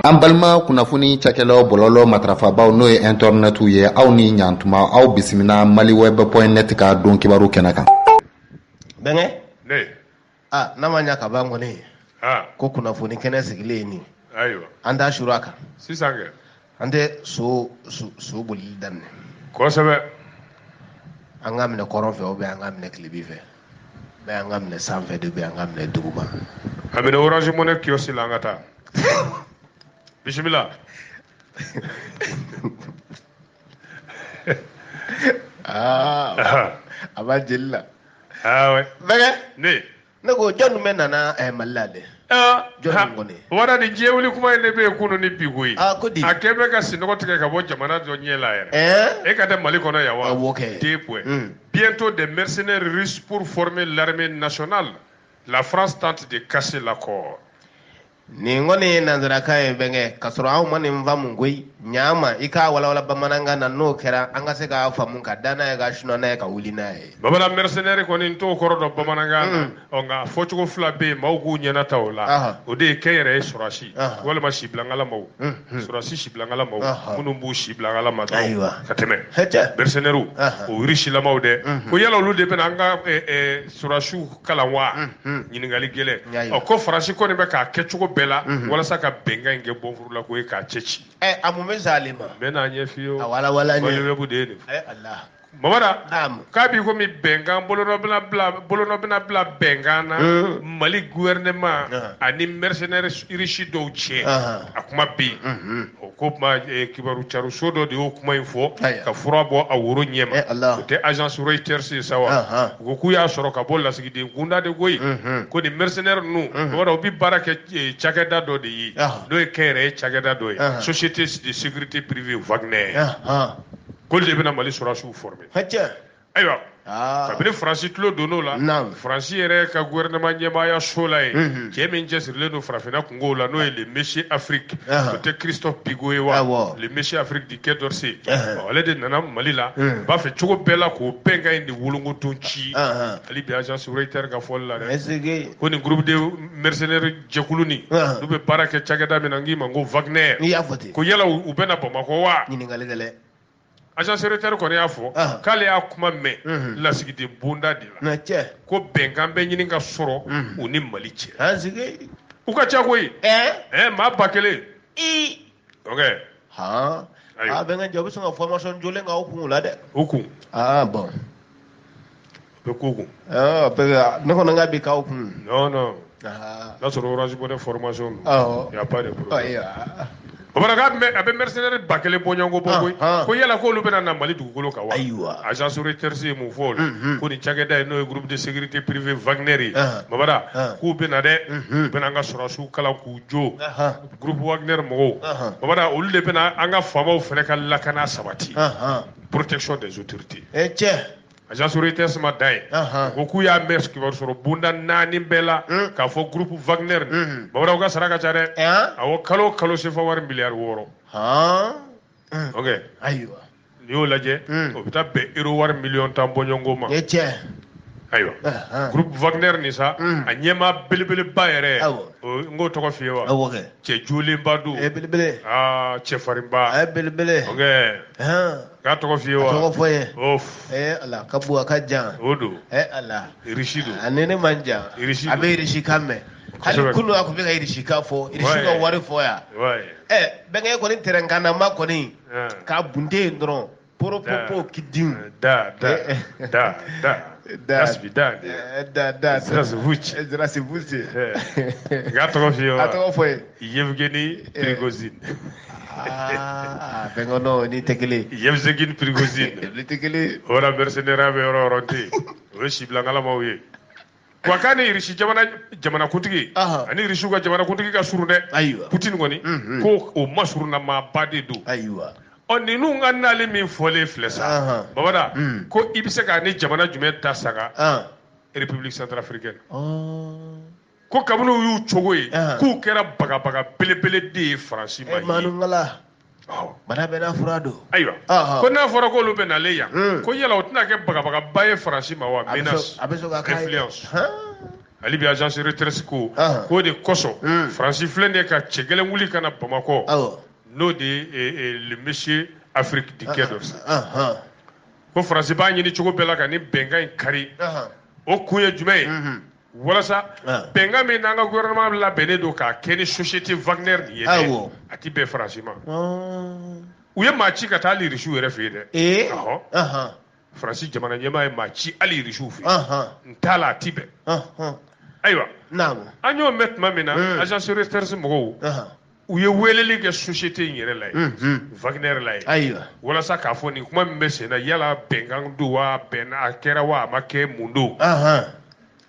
an balima kunnafoni cakɛlaw bɔlɔlɔ matarafabaaw n'o ye intɛrɛnɛtiw ye aw ni ɲantuma aw bisimila maliweb point net ka don kibaru kɛnɛ kan bɛnkɛ aa n'a ma ɲa ka ban kɔni ko kunnafoni kɛnɛ sigilen ye nin an t'a suru a kan an tɛ so so bolili daminɛ kosɛbɛ an ka minɛ kɔrɔn fɛ ou bien an ka minɛ kilebi fɛ mais an ka minɛ sanfɛ de ou bien an ka minɛ duguma a minɛ orange money kiosque la an ka taa bisimila aa ah, a b'a jeli la ah, bɛnkɛ ne ne ko jɔn bɛna na eh, mali la dɛ ah, jɔn kɔni wara ni diɲɛ wuli kuma in de bɛ yen kunu ni bi koyi ah, ko di a kɛ bɛ ka sinɔgɔ tigɛ ka bɔ jamana dɔ ɲɛ la yɛrɛ eh? e ka tɛ mali kɔnɔ yan wa awɔ ah, kɛ deux points hmm. bientôt des mercenaires russes pour former l'armée nationale la France tente de casser l'accord nin kɔni ye nanzarakan ye bɛnkɛ k'a sɔrɔ anw ma nin faamu koyi ɲama i k'a walawala bamanankan na n'o kɛra an ka se k'a faamu ka da n'a ye ka sunɔ n'a ye ka wuli n'a ye bamanan mercenaire kɔni n t'o kɔrɔ dɔn bamanankan na ɔ nka fɔcogo fila bɛ yen maaw k'u ɲɛna ta o la o de ye kɛnyɛrɛye sɔrɔsi walima sibilangalamaw sɔrɔsi sibilangalamaw minnu b'u sibilangalama ka tɛmɛ mercenaires o irisilamaw dɛ ko yala olu de bɛna an ka sɔrɔsiw kalan wa mhm. ɲininkali gɛlɛn ɔ ko faransi kɔni bɛ k'a kɛcogo bɛɛ la mhm. walasa ka bɛnkan in kɛ bɔnfuru la koyi k'a cɛ ci eh, a mun bɛ s'ale ma n bɛ n'a ɲɛ f'i ye o maliweb de ye nin fɔ eh, mamada k'a b'i komi bɛnkan bolonɔ bɛna bila bɛnkan na mhm. mali gouvernement ani mercenaires irisi dɔw cɛ a kuma bɛ yen ko kuma eh, kibaru cariso dɔ de y'o kuma in fɔ ka fura bɔ a woro ɲɛma eh, o tɛ agence reuters ye sa wa u ko k'u y'a sɔrɔ ka bɔ lasigiden kunda de koyi mhm. ko nin mercenaire ninnu mamada mhm. u bɛ baara kɛ eh, cakɛda dɔ de ye n'o ye kɛnyɛrɛye cakɛda dɔ ye société de sécurité privée wagner k'olu de bɛna mali sɔrɔsiw former ayiwa ah. kabini faransi tulo donn'o la faransi yɛrɛ ka gouvernement ɲɛmaaya so la yen mhm. cɛ min cɛsirilen don farafinna kungow la n'o ye le monsieur afrique o tɛ christophe bigot ye wa le monsieur afrique du quai d'orsay ale de nana mali la mhm. b'a fɛ cogo bɛɛ la k'o bɛnkan in de wolongodon ci hali bi agence reuters ka fɔli la dɛ ko nin groupe de mercenaire jɛkulu nin n'u bɛ baara kɛ cakɛda min na n k'i ma ko wagner ko yala u bɛna bamakɔ wa agence reuters kɔni y'a fɔ k'ale y'a kuma mɛn mhm. lasigiden bonda de la ko bɛnkan bɛ ɲini ka sɔrɔ mhm. u ni mali cɛ ah, u ka ca koyi eh? eh, maa ba kelen ok a ah, bɛnkɛ jɔ u bɛ sɔn ka formation jolen k'aw kun la dɛ u kun ah, bɛ ko kun ne kɔni n ka bi k'aw kun non non n'a sɔrɔ orange money formation don awɔ y a pas de problème Bamada k'a bɛ mercenaire ba kelen bɔɲɔgɔnko bɔ koyi ko yala k'olu bɛna na Mali dugukolo kan wa ayiwa agence Reuters ye mun fɔ o la ko nin cakɛda in n'o ye groupe de sécurité privée Wagner ye Bamada k'u bɛna dɛ u bɛna an ka sɔrɔdasiw kalan k'u jo groupe Wagner mɔgɔw Bamada olu de bɛna an ka faamaw fana ka lakana sabati protection des autorités ee cɛ agence Reuters ma dan yen ko k'u y'a mɛn kibaru sɔrɔ bonda naani bɛɛ la hmm. k'a fɔ groupe Wagner hmm. Bamada u ka sara ka ca dɛ awɔ kalo o kalo sefa wari miliyari wɔɔrɔ ayiwa n'i y'o lajɛ hmm. o bɛ taa bɛn euro wari miliyɔn tan bɔɲɔgɔnko ma ayiwa groupe Wagner nin sa a ɲɛmaa belebeleba yɛrɛ n k'o tɔgɔ f'i ye wa cɛ jolenba don cɛfarinba k'a tɔgɔ f'i ye wa a tɔgɔ fɔ ye of ee ala ka bon a ka jan o don ee ala irisi don a ni ne man jan Irisi a don. bɛ irisi kan mɛn hali Kosɛbɛ. kunu a tun bɛ ka irisi kan fɔ irisi Ouais. ka wari fɔ yan wayi ɛ bɛnkɛ kɔni tɛrɛnkanama kɔni Ah. k'a bunte yen dɔrɔn poropopo Da. kidin da da Eh, eh. da da Da. asibi da de Ɛ, da da Zirasi Vuci. Ɛ, zirasi vuci Eh. k'a tɔgɔ f'i ye a wa tɔgɔ fɔ ye yevgeni prigozine Ah, bɛnkɛ non ni tɛ kelen yevgeni prigozine ni tɛ kelen voilà mercenaire bɛ yɔrɔ yɔrɔ tɛ o ye sibilakalamaw ye wa k'a ni irisi jamana jamanakuntigi a ni irisiw ka jamanakuntigi ka surun dɛ ayiwa putini kɔni mhm. ko o masurunna maaba de don ayiwa ɔ ninnu ka nali min fɔlen filɛ sa babada mhm. ko i bɛ se k'a ni jamana jumɛn ta sanga République centrafricaine ko kabini u y'u cogo ye Ahan. k'u kɛra bagabaga belebele de ye faransi ma Eh, ye Manungala, Awɔ. bana bɛɛ n'a fura don. ayiwa Ahan. ko n'a fɔra k'olu bɛ nalen yan Mm. ko yala o tɛna kɛ bagabagaba ye faransi ma wa A bɛ menace sɔn- a bɛ sɔn ka k'a ye. influence Han. hali bi agence Reuters ko Ahan. k'o de kosɔn Mm. faransi filɛ nin ye ka cɛ gɛlɛn wuli ka na bamakɔ Awɔ. n'o de ye eh, eh, le monsieur afrique du quai d'Orsay Ahan. ko faransi b'a ɲini cogo bɛɛ la ka nin bɛnkan in kari Ahan. o kun ye jumɛn ye Mhm. walasa ah. bɛnkan min n'an ka gouvernement labɛnnen don k'a kɛ ni société Wagner nin ye dɛ a ti bɛn Faransi ma ah. u ye maa ci ka taa hali Irisiw yɛrɛ fɛ yen dɛ eh? ɔhɔ Faransi jamana ɲɛmaa ye maa ci hali Irisiw fɛ yen n t'a la a ti bɛn ayiwa an y'o mɛn tuma min na hmm. agence Reuters mɔgɔw u ye weleli kɛ société in yɛrɛ la ye unhun Wagner la ye ayiwa walasa k'a fɔ nin kuma min bɛ sen na yala bɛnkan don wa a bɛnna a kɛra wa a ma kɛ mun don ahan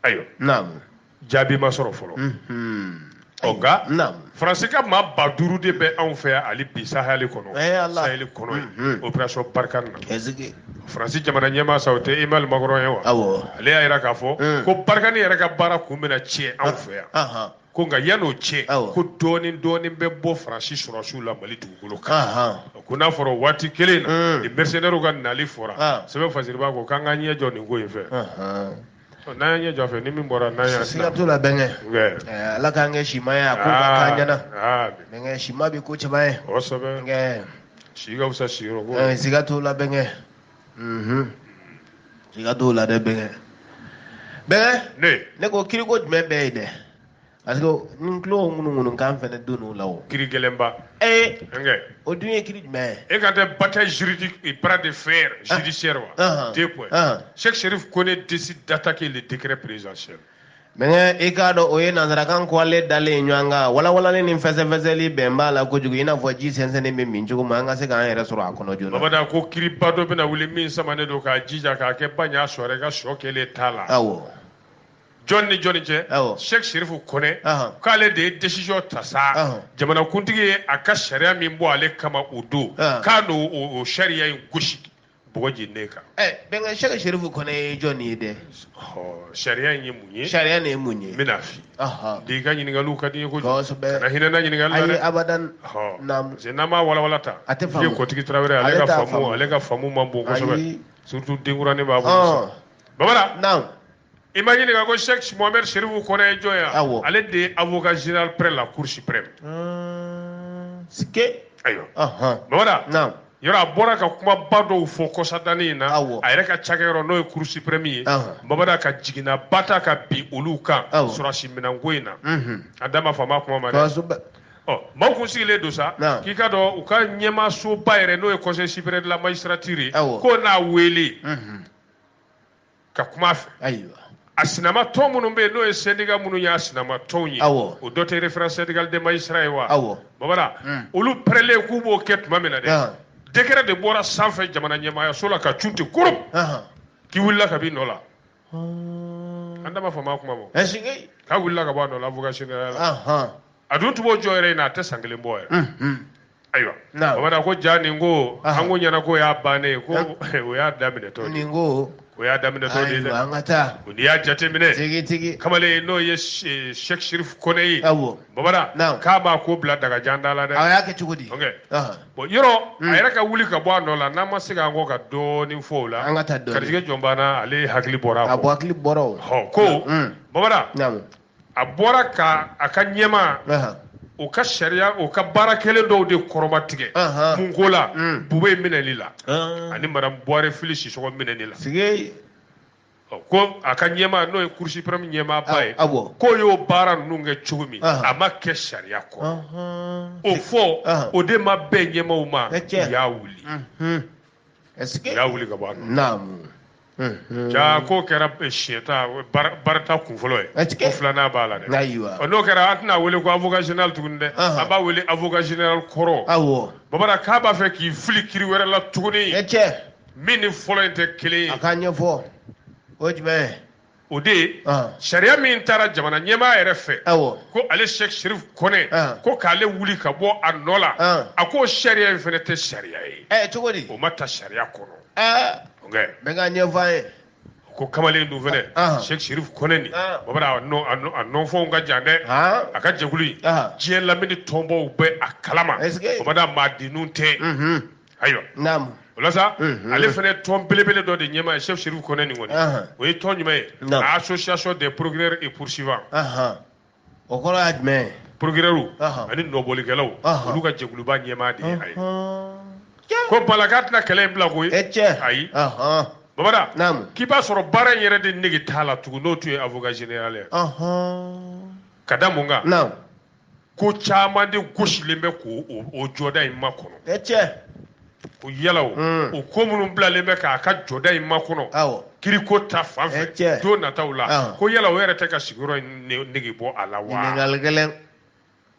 ayiwa naamu jaabi ma sɔrɔ fɔlɔ unhun ɔ nka naamu faransi ka maa ba duuru de bɛ anw fɛ yan hali bi sahɛli kɔnɔ Eh, Ala. sahɛli kɔnɔ ye Mhm. opération Barkhane na ɛsike faransi jamana ɲɛmaa sa o tɛ Emmanuel Macron ye wa awɔ ale y'a jira k'a fɔ Mm. ko Barkhane yɛrɛ ka baara kun bɛna cɛ anw fɛ yan ahan ko nka yan'o cɛ ko dɔɔnin dɔɔnin bɛ bɔ faransi sɔrɔsiw la mali dugukolo kan ko n'a fɔra waati kelen na mm. ni mercenaires ka nali fɔra ah. sɛbɛn fasiriba ko k'an k'an ɲɛ jɔ nin ko in fɛ n'an y'an ɲɛ jɔ fɛ ni min bɔra n'an y'an siga t'o la bɛnkɛ eh, ala k'an kɛ sima ye a ko ka k'an ah, ɲɛna ah. bɛnkɛ sima bɛ ko caman ye kosɛbɛ si ka fisa siyɔrɔ ko eh, siga t'o la bɛnkɛ siga t'o la dɛ bɛnkɛ bɛnkɛ ne ne ko kiriko jumɛn bɛ ye dɛ parce que n tulo ŋunuŋunu kan fɛnɛ don o la o kiri gɛlɛnba ee bɛnkɛ o dun ye kiri jumɛn ye e ka tɛ bataille juridique et bras de fer ah. judiciaire wa ah. deux points ah. Cheikh Chérif Koné décide d'attaquer le décret présidentiel Bɛnkɛ i k'a dɔn o ye nanzarakan kɔlen dalen ɲɔgɔn kan walawalalen ni fɛsɛfɛsɛli bɛ b'a la kojugu i n'a fɔ ji sɛnsɛnnen bɛ min cogo min an ka se k'an yɛrɛ sɔrɔ a kɔnɔ joona. Babada ko kiriba dɔ bɛna wuli min samanen don k'a jija k'a kɛ ba ɲa sɔrɔ i ka sɔ kelen t'a la. Awɔ. Jɔn ni jɔn cɛ? Awɔ. Cheikh Chérif Koné k'ale de ye décision ta sa jamanakuntigi ye a ka sariya min bɔ ale kama o don k'a n'o o sariya in gosi. bɔgɔ jeninnen kan. ɛ eh, bɛnkɛ Cheikh Chérif Koné ye jɔn ye dɛ. ɔ sariya in ye mun ye. sariya nin ye mun ye. n bɛna f'i de ka ɲininkaliw ka di n ye kojugu. kosɛbɛ kana hinɛ n na ɲininkali la dɛ. ayi abadan. ɔ naamu. parce que n'an m'a walawala ta. a tɛ faamu ale kɔtigi tarawele ale ka faamu ale ka faamu man bon kosɛbɛ. ayi surtout denkuranin b'a bolo. babara. naamu. i ma n ɲininka ko Cheikh Mohamed Chérif Koné ye jɔn ye wa? Awɔ. Ale de ye avocat général près la Cour suprême. Uun, sike. Ayiwa. Ɔnhɔn. Babada. Naamu. Yɔrɔ a bɔra ka kumaba dɔw fɔ kɔsadani in na. Awɔ. A yɛrɛ ka cakɛyɔrɔ n'o ye Cour suprême ye. Ɔnhɔn. Babada ka jiginnaba ta ka bin olu kan. Awɔ. Sɔrɔsi minɛnko in na. Unhun. An da ma fama kuma ma dɛ. Kosɛbɛ. Ɔ maaw kun sigilen don sa. Naamu. K'i ka dɔn u ka ɲɛmaasoba yɛrɛ n'o ye Conseil supérieur de la magistrature ye. Awɔ. K'o n'a wele. Unhun. ka kuma fɛ ayiwa a sinama tɔn minnu bɛ yen n'o ye syndicat minnu y'a sinama tɔnw ye awɔ o dɔ tɛ référence syndicale des magistrats ye wa awɔ babara Mm. olu pɛrɛlen k'u b'o kɛ tuma min na dɛ Ahan. décret de bɔra sanfɛ jamana ɲɛmaayaso la ka cun ten kurum ahan k'i wulila ka b'i nɔ la an da ma fama kuma ma ɛsike k'a wulila ka bɔ a nɔ la avocat général la ahan a dun tun b'o jɔyɔrɔ in na a tɛ san kelen bɔ yɛrɛ mhm. ayiwa Naamu. bamada ko ja nin ko Aha. an kun ɲɛ na k'o y'a bannen ye ko o y'a daminɛtɔ de ye nin ko o y'a daminɛtɔ de ye ayiwa dɛ an ka taa o n'i y'a jateminɛ tigi tigi kamalen n'o ye Se- Cheikh Chérif Koné ye awɔ bamada Naamu. k'a b'a ko bila dagajan da la dɛ a y'a kɛ cogo di Ok. Aha. bon yɔrɔ a yɛrɛ ka wuli ka bɔ a nɔ la n'an ma segin an kɔ ka dɔɔnin fɔ o la An ka taa dɔɔnin. ka hakili jigin jɔn b'an na ale hakili bɔra a a kɔ bɔ hakili bɔra o hɔ ko Mm. bamada Naamu. a bɔra ka a ka ɲɛmaa o ka sariya o ka baara kɛlen dɔw de kɔrɔmatigɛ mun ko la mm. Boubèye minɛli la ah. ani Madame Bouaré Fily Sissoko minɛli la ko a ka ɲɛmaa n'o ye Cour suprême ɲɛmaaba ye k'o y'o baara ninnu kɛ cogo min a ma kɛ sariya kɔnɔ o fɔ o de ma bɛn ɲɛmaaw ma u y'a wuli u y'a wuli ka bɔ a jaa k'o kɛra siyɛta barita kun fɔlɔ ye ko filanan b'a la dɛ n'o kɛra an tɛna a wele ko avocat général tuguni dɛ an b'a wele avocat général kɔrɔ awɔ bamada k'a b'a fɛ k'i fili kiri wɛrɛ la tuguni min ni fɔlɔ in tɛ kelen ye a k'a ɲɛfɔ o ye jumɛn ye o de ye sariya min taara jamana ɲɛmaa yɛrɛ fɛ ko ale Cheikh Chérif Koné ko k'ale wuli ka bɔ a nɔ la a ko sariya in fana tɛ sariya ye eh, cogo di o ma ta sariya kɔnɔ ah. n bɛ k'a ɲɛfɔ aw ye ko kamalen dun fana ah. Cheikh Chérif Koné nin ah. bamada a nɔnfɔnw ka jan dɛ a ka jɛkulu in diɲɛ lamini tɔnbaw bɛ a kalama bamada maadenninw tɛ mhm. ayiwa naamu o la sa Mhm. ale fana ye tɔn belebele dɔ de ɲɛmaa ye Cheikh Chérif Koné nin kɔni Ahan. o ye tɔn jumɛn ye Naamu. a association des procureurs et poursuivants ahan o kɔrɔ ye jumɛn ye procureurs Ahan. ani nɔbɔlikɛlaw Ahan. olu ka jɛkuluba ɲɛmaa de ye a ye Ɔhɔn. k'o b'a la k'a tɛna kɛlɛ in bila koyi e cɛ ayi Ɔhɔn. bamada naamu k'i b'a sɔrɔ baara in yɛrɛ de nege t'a la tugun n'o tun ye avocat général ye Ɔhɔn. ka da mun kan naamu ko caman de gosilen bɛ k'o o jɔda in makɔnɔ ɛ cɛ ko yala o mm. o ko minnu bilalen bɛ k'a ka jɔda in makɔnɔ awɔ kiriko ta fan fɛ cɛ don nataw la ah. ko yala o yɛrɛ tɛ ka sigiyɔrɔ in nege bɔ a la wa ɲininkali gɛlɛn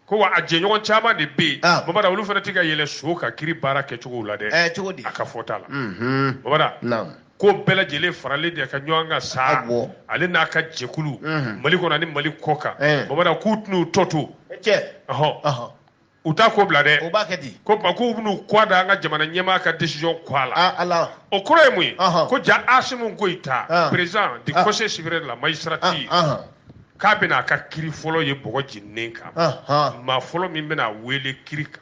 ko wa a jɛɲɔgɔn caman de bɛ yen ah. bamada olu fana tɛ k'u yɛrɛ sɔrɔ o ka kiri baara kɛcogow la dɛ ɛ cogo di a ka fɔta la bamada ko bɛɛ lajɛlen faralen de ka ɲɔgɔn kan sa ale n'a ka jɛkulu mhm. mali kɔnɔ ni mali kɔ kan eh. bamada k'u tɛn'u tɔ to ɔhɔn u t'a ko bila dɛ o b'a kɛ di ko ba k'u bɛn'u kɔ da an ka jamana ɲɛmaa ka décision kɔ a la ah, ala o kɔrɔ ye mun ye ko ja Assimi Goïta ah. président du ah. conseil supérieur de la magistrature k'a bɛna a ka kiri fɔlɔ ye bɔgɔ jeninen kan maa fɔlɔ min bɛna a wele kiri kan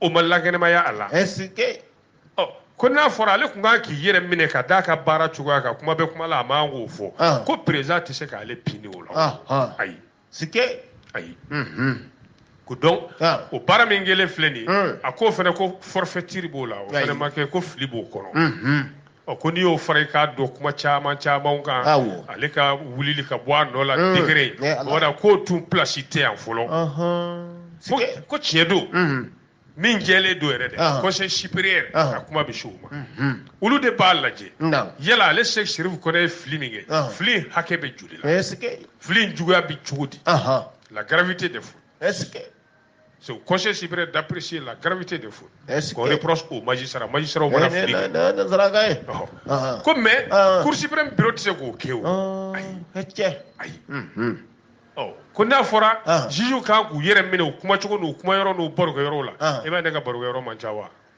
o ma lankɛnɛmaya a la est-ce que ɔ ko n'a fɔra ale tun kan k'i yɛrɛ minɛ ka d'a ka baara cogoya kan kuma bɛ kuma la a man k'o fɔ ah. ko président tɛ se k'ale pini o la ah, ah. ayi sike ayi mhm. ko donc o baara min kɛlen filɛ nin ye hmm. a ko fana ko forfaiture b'o la o fana ma kɛ ko fili b'o kɔnɔ mhm. Ɔ ko n'i y'o fara i k'a dɔn kuma caman caman kan ale ka wulili ka bɔ a nɔ la mm. décret wala k'o tun plasi tɛ yan fɔlɔ ko tiɲɛ don mm-hmm. min jɛlen don yɛrɛ dɛ ah. conseil supérieur ah. a kuma bɛ se o ma mm-hmm. olu de b'a lajɛ yala ale Cheick Chérif Koné ye fili min kɛ ah. fili hakɛ bɛ joli la fili juguya bɛ cogo di la gravité des fautes C'est au Conseil supérieur d'apprécier la gravité des fautes qu'on reproche au magistrat Magistrat au magistrat. Eh, eh, eh, oh. ah, ah. Ko mais, ah. Cour suprême bureau tɛ se k'o kɛ. Oh. Ayi. Ayi. Hmm, hmm. Oh. ko n'a fɔra juge kan k'u yɛrɛ minɛ u kumacogo n'u kumayɔrɔ n'u barokɛyɔrɔw la i b'a ye ne ka barokɛyɔrɔ man ca wa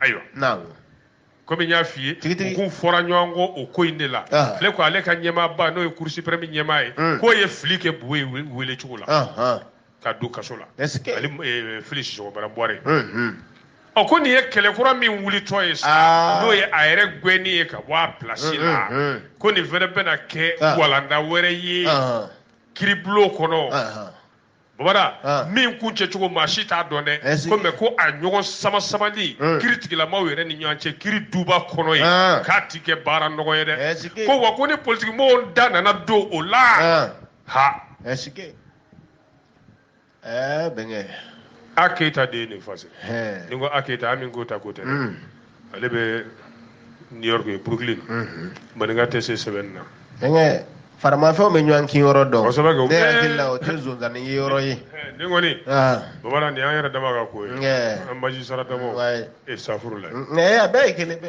ayiwa naaw komi n y'a f'i ye Tigitigi. u k'u fɔra ɲɔgɔn kɔ o ko in de la Ah. ale ko ale ka ɲɛmaaba n'o ye Cour suprême ɲɛmaa ye Mm. k'o ye fili kɛ Boubèye wele- wele cogo la Ahan. ka don kaso la Est-ce que- ani eh, Fily Sissoko Madame Bouaré Mhm. ɔ ko nin ye kɛlɛ kura min wulitɔ ye sa Ah. n'o ye a yɛrɛ gɛnni ye ka bɔ a pilasi Mm, la mm, mm. ko nin fɛnɛ bɛna kɛ Ah. walanda wɛrɛ ye Ahan. kiribulon kɔnɔ Ahan. babada ah. min kuncɛcogo maa si t'a dɔn dɛ eh, ko mais ko a ɲɔgɔn sama-samali eh. kiritigɛla maaw yɛrɛ ni ɲɔgɔn cɛ kiri duba kɔnɔ ye ah. k'a ti kɛ baara nɔgɔ ye dɛ eh, ko wa ko ni politikimɔgɔw da nana don o la ah. ha bɛnkɛ a keyita de ye nin fase ni ko a keyita ami koyita ko tɛ dɛ hmm. ale bɛ new york ye brooklyn maninka tɛ se sɛbɛnni na bɛnkɛ faramafɛnw bɛ ɲɔgɔn kin yɔrɔ dɔn Kosɛbɛ kɛ, u ne bɛɛ- hakili la o tɛ zonzanni ye yɔrɔ ye Ɛɛ, nin kɔni Ah, bamanan nin y'an yɛrɛ dama ka ko ye Nge. an magistrat damaw wayi. e safuru la nka a bɛɛ ye kelen bɛ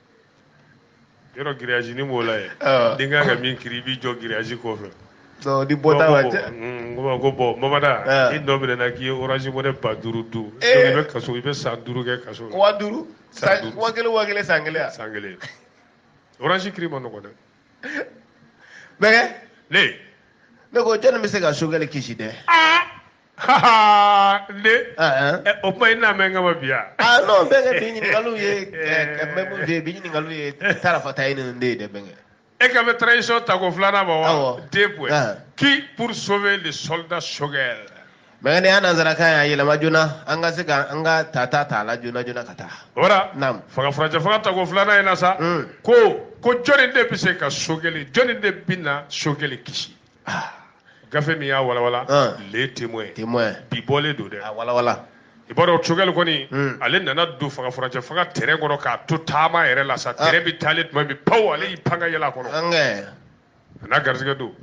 yɔrɔ giriyazi ni b'o la ye ah. n'i kan ka min kiri i b'i jɔ giriyazi kɔfɛ ni bɔta ka cɛ n ko ko bɔn mamada ah. i nɔ minɛna k'i ye orange money ba duuru dun eh. i bɛ kaso i bɛ san duuru kɛ kaso la waa duuru waa kelen waa kelen san kelen san kelen orange kiri man nɔgɔ dɛ bɛnkɛ ne ko jɔnni bɛ se ka sogɛli kisi dɛ ah. ne o kuma i n'a mɛn kama bi yan. aa non bɛnkɛ bi ɲininkaliw ye mɛmu de ye bi ɲininkaliw ye tarafata ye nin de ye dɛ bɛnkɛ. e ka bɛ transition tako filanan ma wa. deux points qui pour sauver le soldat Choguel. bɛnkɛ nin y'a nanzarakan ye a yɛlɛma joona an ka se ka an ka tata ta a la joona joona ka taa. o la naam fanga furancɛ fanga tako filanan in na sa. ko ko jɔni de bɛ se ka sogɛli jɔni de bɛna sogɛli kisi. ah. gafe min y'a walawala ah. le témoin témoin bi bɔlen don dɛ a walawala i b'a dɔn Choguel kɔni hmm. ale nana don fanga furancɛ fanga train kɔnɔ k'a to taama yɛrɛ la sa ah. train bɛ taalen tuma min paw ale y'i pan ka yɛlɛ a kɔnɔ a n'a garisɛgɛ don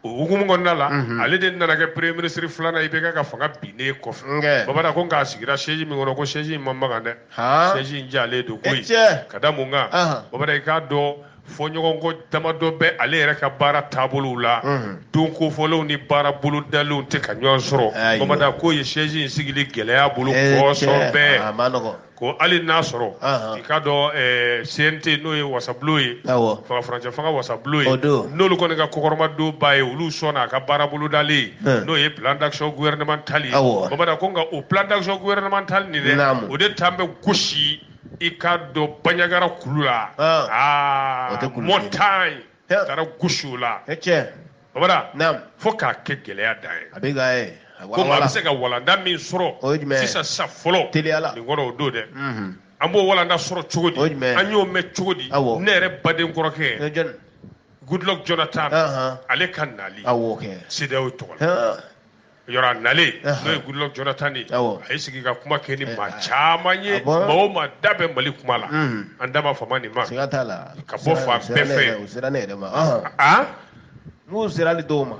o hukumu kɔnɔna la mhm. ale de nana kɛ premier ministre filanan IBK ka fanga binnen kɔfɛ babada ko nka a sigira siège min kɔnɔ ko siège in man magan dɛ siège in jalen don koyi ka da mun kan babada i k'a dɔn fɔɲɔgɔnkɔ damadɔ bɛ ale yɛrɛ ka baara taabolow la don kofɔlenw ni baara bolodalenw tɛ ka ɲɔgɔn sɔrɔ babada k'o ye siège in sigili gɛlɛya a bolo kosɛbɛ ko hali n'a sɔrɔ i k'a dɔn CNT n'o ye wasabulon ye furancɛ fanga wasabulon ye n'olu kɔni ka kɔkɔrɔmadon b'a ye olu sɔnna a ka baara bolodalen n'o ye plan d'action gouvernemental babada ko nka o plan d'action gouvernemental nin o de taa bɛ gosi i k'a dɔn baɲagara kulu la ah. ah, o tɛ kulu montagne taara gosi o la tiɲɛ babada naam fo k'a kɛ gɛlɛya dan ye a bɛ ka ye komi a bɛ se ka walanda min sɔrɔ o ye jumɛn ye sisan sisan fɔlɔ teliya la nin kɔrɔ o don dɛ mhm. an b'o walanda sɔrɔ cogo di o ye jumɛn ye an y'o mɛn cogo di awɔ ne yɛrɛ baden kɔrɔkɛ goodluck jonathan ale ka nali awɔ kɛ CEDEAO tɔgɔ la yɔrɔ a nalen n'o ye Goodluck Jonathan ye a y'i sigi ka kuma kɛ ni maa caman ye maa o maa da bɛ Mali kuma la an dama faama ni maa siga t'a la ka bɔ fan bɛɛ fɛ u sera ne yɛrɛ ma aa n'u sera hali dɔw ma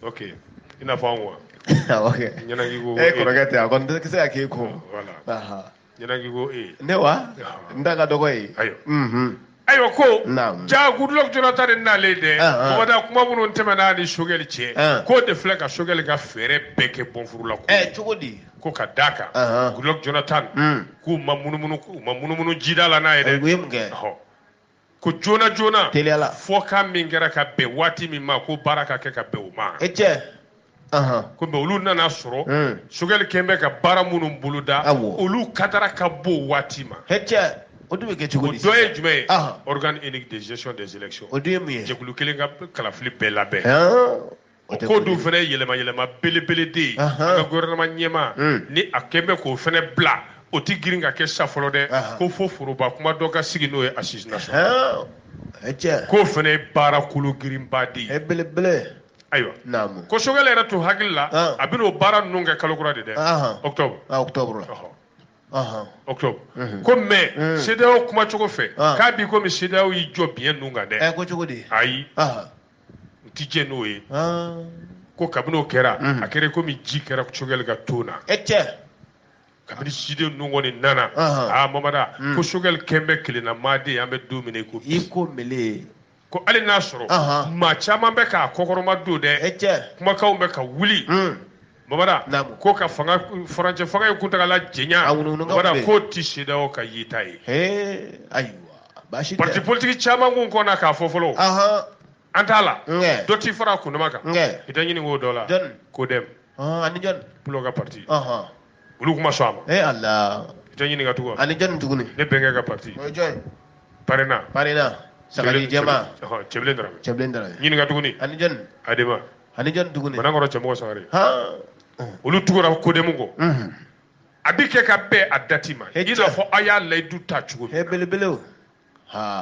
ok i n'a fɔ anw wa ɲɛnaki ko e kɔrɔkɛ tɛ a kɔni tɛ se ka k'e kɔ ɲɛnaki ko ee ne wa n da ka dɔgɔ ye ayiwa mhm. ayiwa ko Naamu. jaa Goodluck Jonathan de nalen dɛ Ah, ah. ko dakuma minnu tɛmɛna a ni Choguel cɛ Ah. k'o de filɛ ka Choguel ka fɛɛrɛ bɛɛ kɛ bɔnfurula ko ɛ cogo di ko ka da kan Ah, ah. Goodluck Jonathan Mm. k'u ma munumunu k'u ma munumunu jida la n'a ye dɛ u ye mun kɛ Ɔhɔ. ko joona joona teliya la fɔkan min kɛra ka bɛn waati min ma ko baara ka kɛ ka bɛn o ma e cɛ ko mais olu nana sɔrɔ hmm. Choguel kɛn bɛ ka baara minnu boloda olu katara ka bɔ waati ma e cɛ o dun bɛ kɛ cogo di o dɔ ye jumɛn ye organe unique de gestion des élections o dun ye mun ye jɛkulu kelen ka kalafili bɛɛ labɛn O tɛ ko k'o dun fana ye yɛlɛma yɛlɛma belebele de ye Ahan. an ka gouvernement ɲɛmaa Mm. ni a kɛn bɛ k'o fana bila o tɛ girin ka kɛ sa fɔlɔ dɛ Ahan. ko fo foroba kuma dɔ ka sigi n'o ye assise nationale Hɛn, o ye tiɲɛ k'o fana ye baara kolo girinba de ye belebele ayiwa naamu ko Choguel yɛrɛ tun hakili la Ahan. a bɛna o baara ninnu kɛ kalo kura de dɛ Ahan. octobre Ah, octobre la ɔhɔ. Ahan. octobre Mhm. ko mais Mm. CEDEAO kuma cogo fɛ Ah. k'a bi komi CEDEAO y'i jɔ biɲɛ ninnu kan ɛ dɛ ko cogo di ayi Ahan. u ti jɛ n'o ye ko kabini o kɛra a kɛra komi ji kɛra sogɛli ka to na e cɛ kabini ciden ninnu kɔni nana aa mamada ko sogɛli kɛlen bɛ kelenna maaden an bɛ don min ko i ko mele ko hali n'a sɔrɔ maa caman bɛ k'a kɔkɔrɔma don dɛ e cɛ kumakanw bɛ ka wuli Bamada ko ka fanga furancɛ fanga in kuntaala janya k'o tɛ CEDEAO ka yita ye ayiwa pati politigi caman kun kɔnna k'a fɔ fɔlɔ an t'a la dɔ t' fara a kundama kan i tɛ ɲinink'o dɔ la jɔn kodemu ani jɔn pulo ka pati olu kun ma sɔn a ma Ala i tɛ ɲininka tugun ani jɔn tuguni ne bɛnkɛ ka pati parena saga jɛman cɛbilen darame ɲininka tuguni ani jɔni tuguni banakɔrɔ cɛmɔgɔ sangare olu tugura kodemu kɔ a bɛ kɛ ka bɛn a dati ma i n'a fɔ aw y'a layidu ta cogo min belebele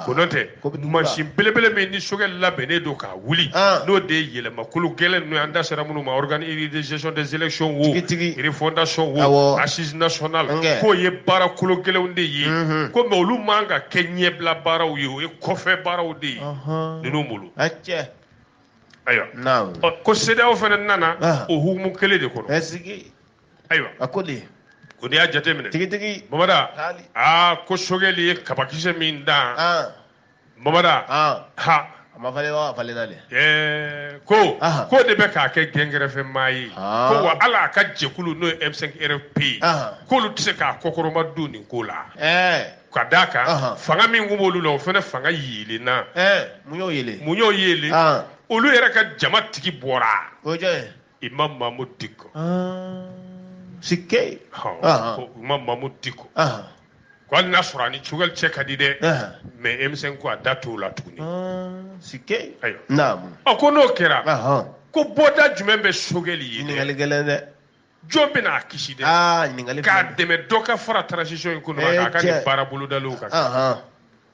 ko n'o tɛ mansin belebele min ni sogɛli labɛnnen don k'a wuli n'o de ye yɛlɛmakolo gɛlɛn ninnu ye an da sera minnu ma organe de gestion des élections wo refondation wo assise nationale k'o ye baara kolo gɛlɛnw de ye ko mais olu man ka kɛ ɲɛbila baaraw ye o ye kɔfɛ baaraw de ye ninnu bolo. ayiwa ko CEDEAO fana nana o hukumu kelen de kɔnɔ ayiwa a ko de ko n'i y'a jateminɛ tigitigi bamada aa ko sogɛli ye kabakisɛ min dan bamada ha a ma falen wa a falenna de ɛɛ ko ko de bɛ k'a kɛ gɛnkɛrɛfɛmaa ye ko wa hali a ka jɛkulu n'o ye M5 RFP ye k'olu tɛ se k'a kɔkɔrɔma don nin ko la ɛɛ ka d'a kan Ahan. fanga min kun b'olu la o fana fanga yeelenna ɛɛ mun y'o yele mun y'o yeelen Ahan. olu yɛrɛ ka jama tigi bɔra o ye jɔn ye imam mamudu diko Ah, sike Ahan. Ahan. ko imam mamudu diko Ahan. ko hali n'a sɔrɔ a ni sogɛli cɛ ka di dɛ Ahan. mais M5 ko a da t'o la tuguni Ah, sike ayiwa naamu ɔ ko n'o kɛra Ahan. ko bɔda jumɛn bɛ sogɛli ye dɛ? ɲininkali gɛlɛn dɛ jɔn bɛna a kisi dɛ ah, k'a dɛmɛ dɔ ka fara transition in kɔnɔ eh, k'a ka nin baara bolodaliw kan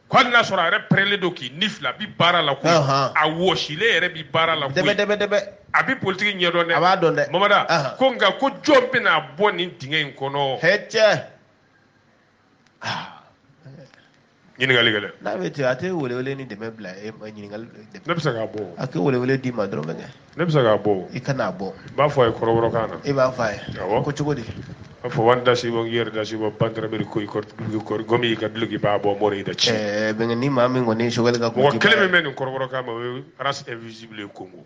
ko hali n'a sɔrɔ a yɛrɛ pɛrɛnlen don k'i ni fila bi baara la ko a wɔsilen yɛrɛ bi baara la koyi dɛbɛdɛbɛdɛbɛ a bi politiki ɲɛdɔn dɛ a b'a dɔn dɛ mamada ko nka ko jɔn bɛn'a bɔ nin dingɛ in kɔnɔ e cɛ ɲininkali gɛlɛn. n'a bɛ ten a tɛ welewele ni dɛmɛ bila e ma ɲininkali dɛmɛ. ne bɛ se k'a bɔ. a tɛ welewele d'i ma dɔrɔn kɛ. ne bɛ se k'a bɔ. i kana a bɔ. i b'a fɔ a ye kɔrɔbɔrɔkan na. e b'a fɔ a ye. awɔ ko cogo di. a fɔ wani dasi bɔ yɛrɛ dasi bɔ bantarameri ko i kɔrɔ gomi i ka duloki b'a bɔ mɔri i da ci. ɛɛ bɛnkɛ ni maa min kɔni ye sogɛli ka. mɔgɔ kelen min bɛ nin kɔrɔbɔrɔkan ma o ye race invisible ye kongo.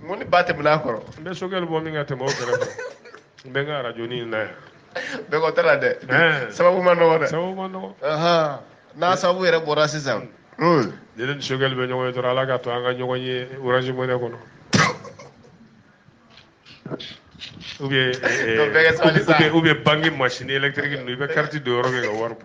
mun ni ba tɛmɛna a kɔrɔ n bɛ choguel bɔ min ka tɛmɛ o kɛrɛfɛ n bɛ n ka arajo ni na yan bɛɛ kɔ tɛ la dɛ sababu man dɔgɔ dɛ sababu man dɔgɔ n'a sababu yɛrɛ bɔra sisan hmm. ne ni choguel bɛ ɲɔgɔn ye dɔrɔn ala ka to an ka ɲɔgɔn ye orange money kɔnɔ ou bien eh, eh, ou bien banque machine électrique ninnu i bɛ carte don yɔrɔ min ka wari bɔ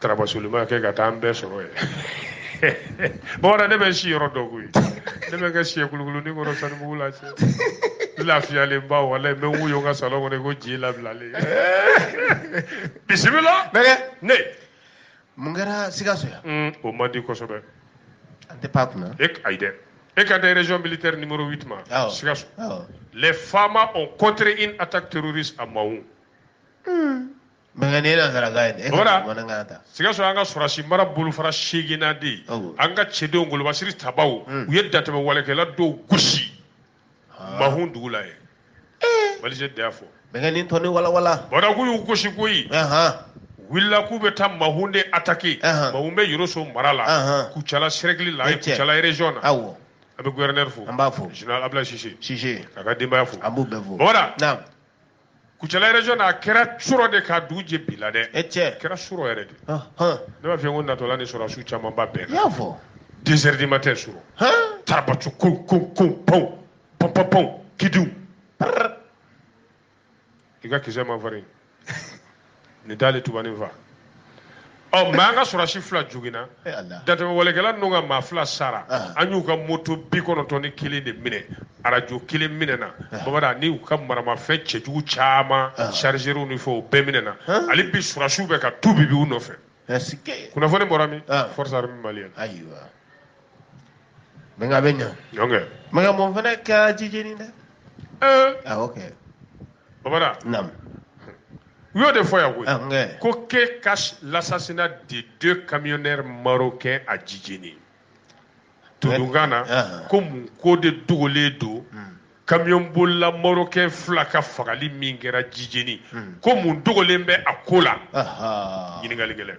tarabasolima kɛ ka taa an bɛɛ sɔrɔ yen bamanan ne bɛ si yɔrɔ dɔ koyi ne bɛ kɛ siɲɛ kulukulu ni kɔrɔ sanibugu la cɛ lafiyalen ba wala n bɛ n wuyo n ka salon kɔnɔ ko ji labilalen bisimila bɛɛ ne mun kɛra sikaso yan mm, o man di kosɛbɛ an tɛ pan a kunna e ayi dɛ e kan tɛ région militaire numéro 8 ma sikaso les famas ont contré une attaque terroriste à Mahou hmm. Mɛ nka ne na saraka ye taa sikaso an ka sɔrɔsi mara bolofara seeginnan de ye an ka cɛdenw golobasiri ta u ye dantɛmɛ walekɛla dɔw gosi Mahou dugu la ye mali da fɔ mɛ tɔn wawa bɔra k'u y'u gosi k'u wulila k'u bɛ taa Mahou de attaquer Mahou bɛ yɔrɔso mara la kucala cercle la kucala région na awɔ an bɛ gouverneur fo an b'a fo général ablaye cissé k'a ka denbaya fo an b'u bɛɛ fo kucala région na a kɛra surɔ de ka dugu jɛ bi la dɛ e cɛ a kɛra surɔ yɛrɛ de ne b'a fɛ ko natɔla ni sɔrɔdasiw camanba bɛɛ la fɔ deux heures du matin surɔ tarabacu ko ko ko pɔn pɔn pɔn pɔn kidiw i ka kisɛ man farin nin t'ale tubanin fa ɔ mɛ an ka sɔrɔsi fila joginna dantɛmɛwalekɛla ninnu ka maa fila sara an y'u ka moto bi kɔnɔntɔn ni kelen de minɛ arajo kelen minɛna bamanan ni u ka maramafɛn cɛjugu caman chargeurw ni fɛn o bɛɛ minɛna hali bi sɔrɔsiw bɛ ka tu bibi u nɔfɛ kunnafoni bɔra min forces armées maliennes mɛ a bɛ ɲa mɛ mun fana kɛra jijeni dɛ awɔ kɛ bamana naamu u y'o de fɔ yan koyi ko que cache l'assassinat de deux camionneurs marocains à jijeni tununkan na ko mun ko de dogolen don camion bolila marocain fila ka fagali min kɛra jijeni ko mun dogolen bɛ a ko la ɲininkali gɛlɛn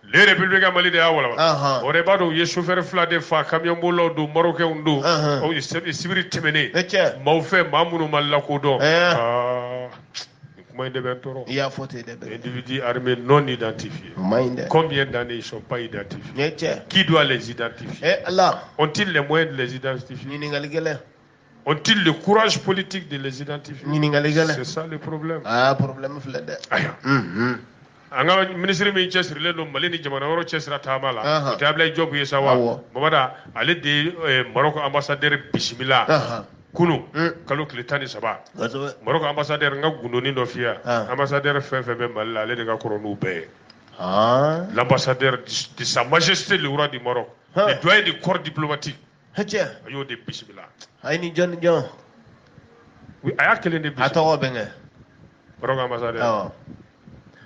le républicain mali de y'a walawala Ahan. o de b'a dɔn u ye chauffeur fila de fa camion bolilaw don marocainw don Ahan. o ye sib- sibiri tɛmɛnen Ne cɛ. maaw fɛ maa minnu ma lakodɔn Eh. Ah, nin kuma in de bɛ n tɔɔrɔ i y'a fɔ ten dɛ bɛɛ individu armé non identifié o man ɲi dɛ combien d'années ils sont pas identifiés ne cɛ qui doit les identifier e ala ont-ils les moyens de les identifier ɲininkali gɛlɛn Ont-ils le courage politique de les identifier. C'est ça le problème. Ah, problème filɛ dɛ. Ayiwa. Unhun. An ka minisiri min cɛsirilen don Mali ni jamana wɛrɛw cɛsira taama la. Ahan. O tɛ Abilaye Diop ye sa wa? Awɔ. Bamada, ale de ye eh, Maroc ambassadeur bisimila. Ahan. Kunu. Un. Kalo tile tan ni saba. Kosɛbɛ. Maroc ambassadeur n ka gundoni dɔ f'i ye. An. Ambassadeur fɛn fɛn bɛ Mali la, ale de ka kɔrɔ n'u bɛɛ ye. Haan. L'ambassadeur de sa majesté le roi du Maroc. Han. Le doyen du corps diplomatique. hɛcɛ a y'o de bisimila a ye nin jɔn ni jɔn a y'a kelen de bisimila a tɔgɔ bɛnkɛ Maroc ambassadeur awɔ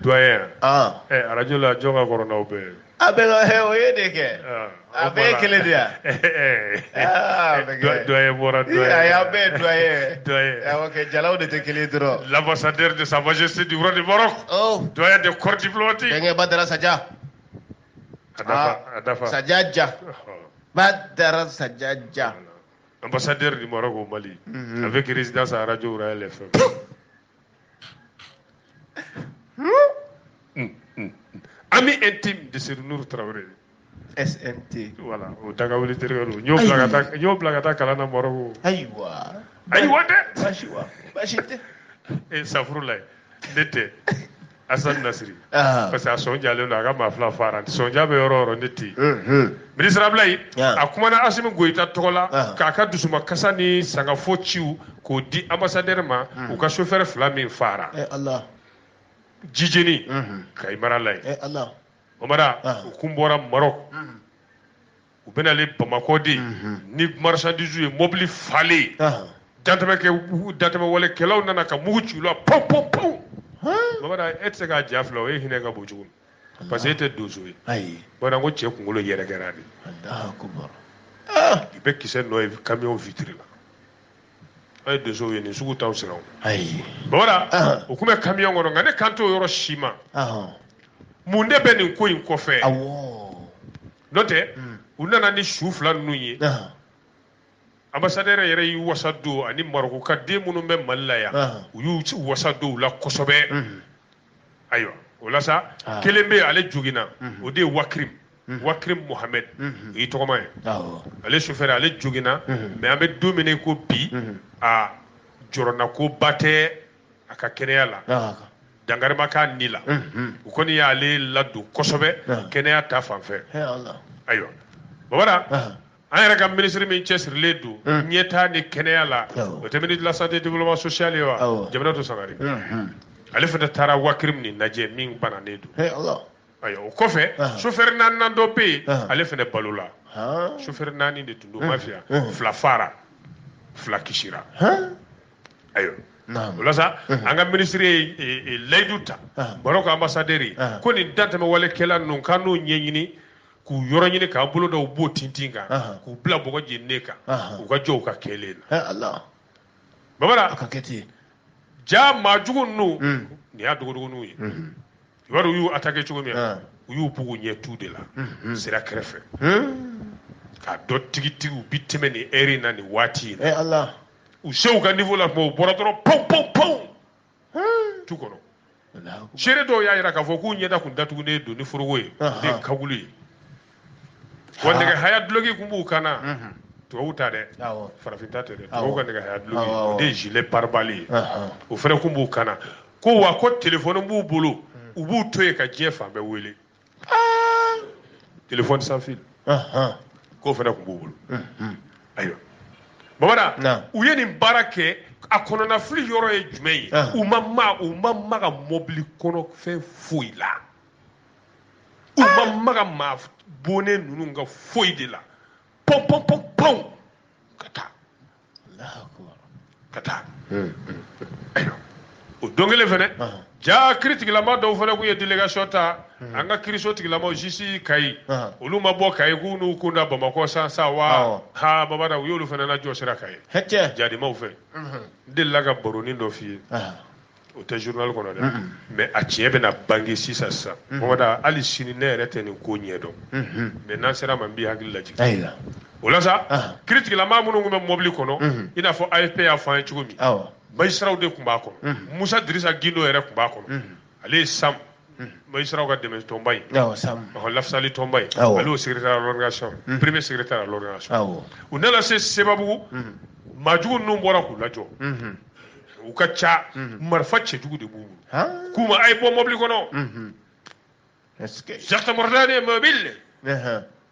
doyen ɛ arajo la jɔn ka kɔrɔ n'aw bɛɛ a bɛ ka hɛ o ye de kɛ a bɛɛ ye kelen de yan doyen bɔra doyen a y'a bɛɛ doyen doyen awɔ kɛ jalaw de tɛ kelen dɔrɔn l'ambassadeur de sa majesté du roi du Maroc doyen de corps diplomatique bɛnkɛ badara saja a dafa sajaja badara sajaja ambassadeur du Maroc au Mali mhm. avec résidence à Radio Royal FM hmm, hmm, hmm. ami intime de Seydou Traoré SMT voilà o dagawuli terikɛ don n y'o bila ka taa n y'o bila ka taa kalan na Maroc ayiwa ayiwa dɛ baasi wa baasi tɛ e safurulayi ne tɛ Asan Nasiri parce que a sɔn jalen don a ka maa fila fara sɔnja bɛ yɔrɔ yɔrɔ ne tɛ yen minisiri Abilayi a kumana Asimi Goyita tɔgɔ la k'a ka dusumakasa ni sangafo ciw k'o di anbasadɛri ma u ka sofɛrɛ fila min fara Ala Jijeni Kayi mara la yen Ala o mara u kun bɔra Marɔku. u bɛ nalen bamakɔ de ni marisandisiw ye mɔbili falen dantɛmɛwalekɛlaw nana ka mugu ci u la panp panp panp bamanan e tɛ se k'a ja filɛ o e hinɛ ka bon kojugu parce que e tɛ donso ye bamanan ko cɛ kunkolo yɛrɛ kɛra de i bɛ kisɛ nɔ ye kamiyɔn witiri la an ye donsow ye nin sugu t'aw siran bamanan u tun bɛ kamiyɔn kɔnɔ nka ne kan t'o yɔrɔ si ma mun de bɛ nin ko in kɔfɛ n'o tɛ u nana ni su fila ninnu ye anbasadɛrɛ yɛrɛ y'i wasa don ani Marɔku ka den minnu bɛ mali la yan u y'u ci wasa don u la kosɛbɛ ayiwa o la sa kelen bɛ ale jogina o de ye Wakirimu Wakirimu Muhamɛdi o y'i tɔgɔma ye ale sofɛrɛ ale jogina mɛ an bɛ don min na ko bi a jɔrɔnanko ba tɛ a ka kɛnɛya la dankari ma k'a ni la u kɔni y'ale ladon kosɛbɛ kɛnɛya ta fan fɛ ayiwa babara an yɛrɛ ka minisiri min cɛsirilen don ɲɛtaa ni kɛnɛya la o tɛ ministre de la santé et développement social ye wa jamanatu sangare ale fana taara wakrim nin lajɛ min bananen don ayiwa o kɔfɛ sofɛri naaninan dɔ bɛ yen ale fana balola sofɛri naani de tun don mafiya fila faara fila kisira ayiwa o la sa an ka minisiri ye layidu ta marɔku anbasaderi ye ko nin dantɛmɛ walekɛla ninnu k'an n'o ɲɛɲini k'u yɔrɔ ɲini k'an bolo da u bo tintin kan k'u bila bɔgɔ jeninen kan u ka jɔ u ka kɛlen na babara ka kɛ ten ja maa jugu ninnu nin y'a dogodogoninw ye i b'a dɔn u y'u attaqué cogo min na u y'u bugu ɲɛ tu de la sira kɛrɛfɛ k'a dɔn tigitigi u bi tɛmɛ nin heure in na nin waati in na u se u ka niveau la tuma u bɔra dɔrɔn pawu pawu pawu tu kɔnɔ seere dɔw y'a jira k'a fɔ k'u ɲɛda tun datugulen don ni foroko ye ni kagulu ye wa nɛgɛ haya dulogi kun b'u kan na mhm. tubabu ta dɛ farafin ta tɛ dɛ tubabu ka nɛgɛ haya dulogi o de ye gilet pare-balle ye o fana kun b'u kan na ko wa ko telefɔni b'u bolo mm. u b'u to yen ka diɲɛ fan bɛɛ wele ah! telefɔni sans fil k'o fana kun b'u bolo mm-hmm. ayiwa babara u ye nin baara kɛ a kɔnɔna fili yɔrɔ ye jumɛn ye u ma ma u ma maga mɔbili kɔnɔ fɛn foyi la u ma ah! maga maa bonnen ninnu ka foyi de la pɔn pɔn pɔn pɔn ka taa ka taa o don kelen fɛnɛ ja kiritigilama dɔw fɛnɛ kun ye delegation ta hmm. an ka kiriso tigilamaw jisi kayi olu ma bɔ kayi k'u n'u kun da bamakɔ san sa wa ha babada u y'olu fɛnɛ lajɔ sira kayi jadimaw fɛ n delila ka baronin dɔ f'i ye o tɛ journal kɔnɔ dɛ mais a tiɲɛ bɛna bange sisan sisan babada hali sini ne yɛrɛ tɛ nin ko ɲɛ dɔn mais n'an ser'a ma n b'i hakili lajigin o la sa kiritigilama minnu tun bɛ mobili kɔnɔ i n'a fɔ afp y'a fɔ an ye cogo min majisiraw de tun b'a kɔnɔ musa dirisa gindo yɛrɛ tun b'a kɔnɔ ale ye sam Majisiraw ka dɛmɛ tɔnba in, awɔ, SAM, ɔhɔ, lafasali tɔnba in, awɔ, ale y'o secrétaire à l'organisation, unhun, premier secrétaire à l'organisation, awɔ, u nana se Sebabugu, unhun, maajugu ninnu bɔra k'u lajɔ, unhun, u ka ca, unhun, marifa cɛjugu de b'u bolo, han, k'u ma a ye bɔ mɔbili kɔnɔ, unhun, est ce que, Jakite Mɔrɔtala de ye mɔbili, anhan.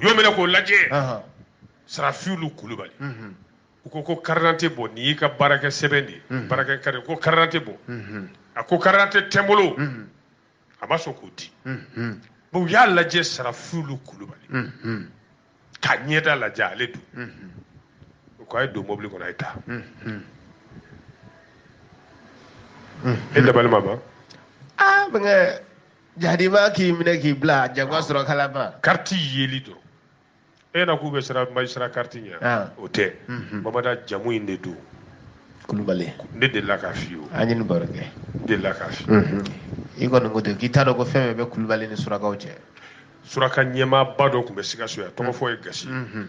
y'o minɛ k'o lajɛ sarafilu kulubali u ko ko karidante bɔ nin y'i ka baarakɛ sɛbɛn de ye baarakɛ kari ko karidante bɔ a ko karidante tɛ n bolo a ma sɔn k'o di bon u y'a lajɛ sarafilu kulubali ka ɲɛda lajɛ ale don u ko a ye don mobili kɔnɔ a ye taa e dabali ma ban aa bɛnkɛ jadima k'i minɛ k'i bila jagoya sɔrɔ kalama kariti yeli dɔrɔn e na k'u bɛ siran magistrat kariti ɲɛ ah. o tɛ mhm. babara jamu in de don kulubali ne delila k'a f'i ye an ye nin baro kɛ n delila k'a f'i ye mhm. i kɔni ko ten k'i t'a dɔn ko fɛn bɛɛ bɛ kulubali ni surakaw cɛ suraka ɲɛmaaba dɔ tun bɛ sikaso yan tɔgɔ fɔ ye gasi mhm.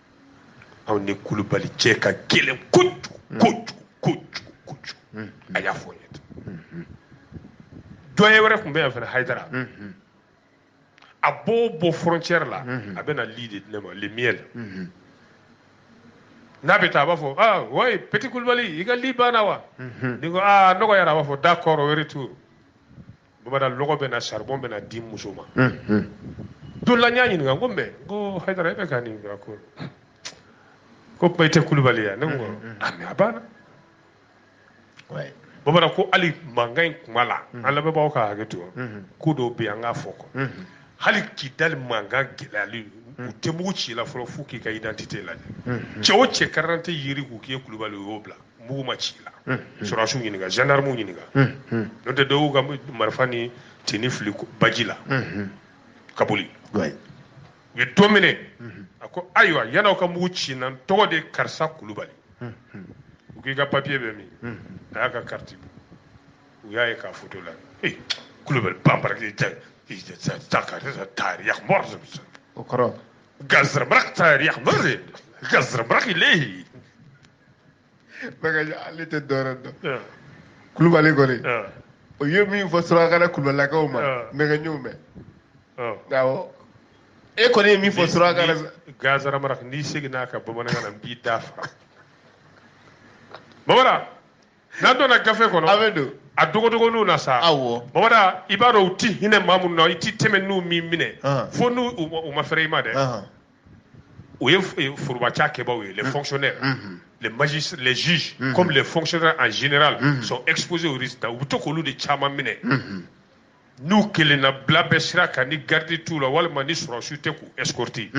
aw ni kulubali cɛ ka gɛlɛn kojugu kojugu kojugu kojugu a y'a fɔ n ye tan doyen wɛrɛ tun bɛ yan fana hayidara a b'o bɔ frontière la a bɛ na li de di ne ma le miel n'a bɛ taa a b'a fɔ ah wayi petit kulubali i ka li banna wa ne ko ah nɔgɔyara a b'a fɔ d'accord o ye retour babara lɔgɔ bɛ na saribɔn bɛ na di n muso ma don la n y'a ɲininka n ko mɛ n ko hayidara e bɛ ka nin kɛ ko ko kuma i tɛ kulubali ya ne ko a mɛ a banna babara ko hali mankan in kuma la an lamɛnbaaw ka hakɛ to ko dɔw bɛ yan k'a fɔ ko hali kidali mankan gɛlɛyali u tɛ mugu ci i la fɔlɔ fo k'i ka identité lajɛ cɛ o cɛ karidante yira k'u k'i ye kulubali u y'o bila mugu ma ci la hmm, hmm. sɔrɔsiw ɲininka gendarmew ɲininka hmm, n'o tɛ dɔw ka marifa ni tenue fili baji la ka boli u ye dɔ minɛ a ko ayiwa yann'aw ka mugu ci n na n tɔgɔ de karisa kulubali u k'i ka papiye bɛ min a y'a ka kariti bɔ u y'a ye k'a foto la ee kulubali banbaraki ta ta ka ta yakubɔr o kɔrɔ gazarabara ta yakubɔr gazarabara k'i lehi Bakarijan ale tɛ dɔwɛrɛ dɔn ah. kulubali kɔni ah. o ye min fɔ surakakan na kulubalakaw ma ah. mɛgɛɲɛw mɛn awɔ e kɔni ye min fɔ surakakan na gansara mara n'i seginna ka bamanankan na n b'i da fara babara n'an donna gafe kɔnɔ a bɛ don a dogodogoniw na sa awɔ babara i b'a dɔn u ti hinɛ maa minnu na i ti tɛmɛ n'u m'i minɛ fo n'u u ma fɛrɛ i ma dɛ o ye forobacakɛbaaw ye les mm. fonctionnaires mm-hmm. les magistrats les juges mm-hmm. comme les fonctionnaires en général mm-hmm. sont exposés au risque u bɛ to k'olu de caman minɛ n'u kelenna bila bɛ sira kan ni garde t'u la walima ni sɔrɔsiw tɛ k'u escorter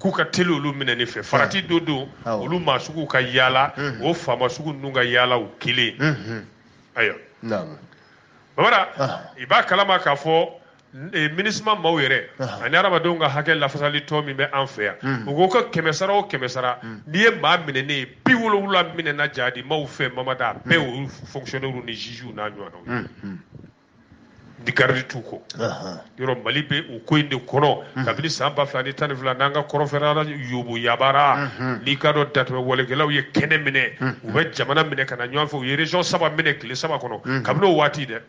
k'u ka teli olu minɛni fɛ farati dɔ don olu maa sugu ka yaala o faama sugu ninnu ka yaala u kelen ayiwa babara ah. i b'a kalama k'a fɔ Eh, MINUSMA maaw yɛrɛ ani adamadenw ka hakɛ lafasali tɔn min bɛ an fɛ yan hmm. u ko ka kɛmɛsara o kɛmɛsara hmm. n'i ye maa minɛnen ye bi wolowula minɛna jadi maaw fɛ mamada a bɛɛ hmm. olu fonctionnaires ni juges n'a ɲɔgɔnnaw ni garidi t'u kɔ yɔrɔ mali bɛ o ko in de kɔnɔ kabini san ba fila ni tan ni fila n'an ka kɔrɔnfɛla yubuyabara n'i k'a dɔn dantɛmɛ walekɛlaw ye kɛnɛ minɛ u bɛ jamana minɛ ka na ɲɔgɔn fɛ u ye région saba minɛ tile saba kɔnɔ kabini o waati dɛ